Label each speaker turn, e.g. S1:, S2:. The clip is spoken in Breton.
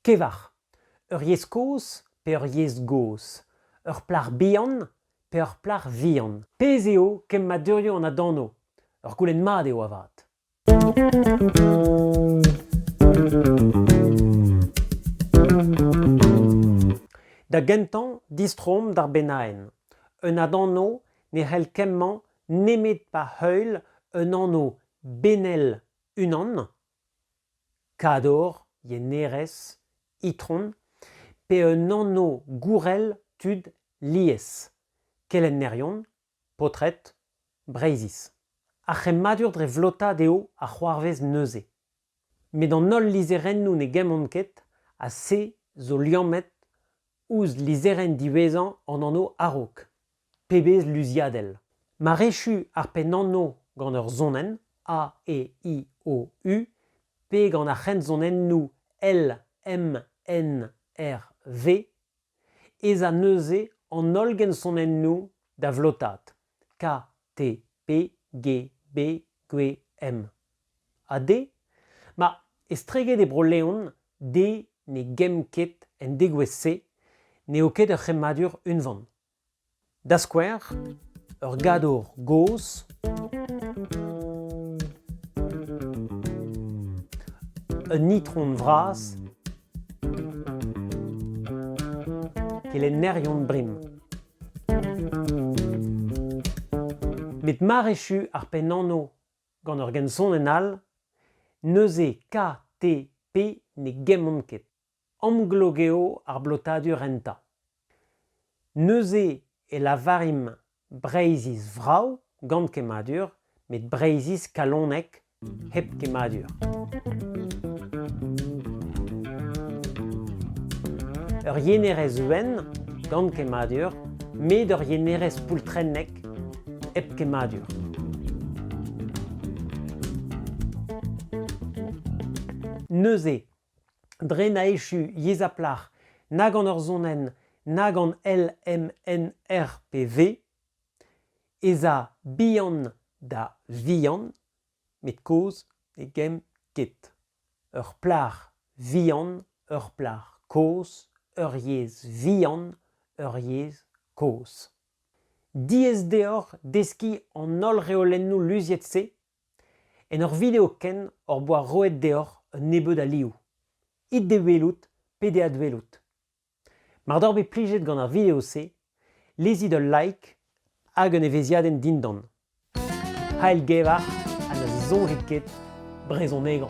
S1: Kevar, ur yezh kozh pe ur yezh gozh, ur plac'h bihan pe ur plac'h vihan? Pezh eo kemmadurioù an adanv? Ur goulenn mat eo avat. Da gentañ distroomp d'ar bennaenn. Un adanv ne c'hell kemmañ nemet pa heul un anv benel unan Kador, yenerez, itron, pe un anv-gourel tud lies, kelennerion, paotred, Breizhiz. Ar c'hemmadur dre vlotaat eo a c'hoarvez neuze. Met an holl lizherennoù ne gemmont ket ha se zo liammet Ouzh lizherenn diwezhañ an anv a-raok, pebezh luziadell ! Marechu ar pennanv gant ur sonenn A-E-I-O-U pe gant ar c'hensonennoù L-M-N-R-V ez a neuze an holl gensonennoù da vlotaat. KTPGBGM. Ha D, ma estreget e Bro-Leon, D ne gemm ket en degouezh-se n'eo ket ur c'hemmadur unvan. Da skouer, ur gadour gozh, un itron vras, kelennerion brim. Met mar echu ar pennanv gant ur gensonenn all, neuze KTP ne gemmont ket. Amglok eo ar blotadur enta. Neuze e lavarimp Breizhiz vrav gant kemmadur met Breizhiz kalonek hep kemmadur. Ur yenerez wenn gant kemmadur, met ur yenerez poultrennek hep kemmadur. Neuze, dre na echu yezh ha plac'h na gant ur sonenn na gant LMNRPV ez a bihan da vihan met kozh ne gemm ket ur plac'h vihan ur plac'h kozh ur yezh vihan ur yezh kozh diaes deoc'h deskiñ an holl reolennoù luziet-se en ur video ken hor boa roet deoc'h un nebeud alioù it d'e welout pe d'e adwelout Mar doc'h bet plijet gant ar video-se, lezit ul like hag un evezhiadenn dindan. Ailgevar ha ne soñjit ket brezhonegañ.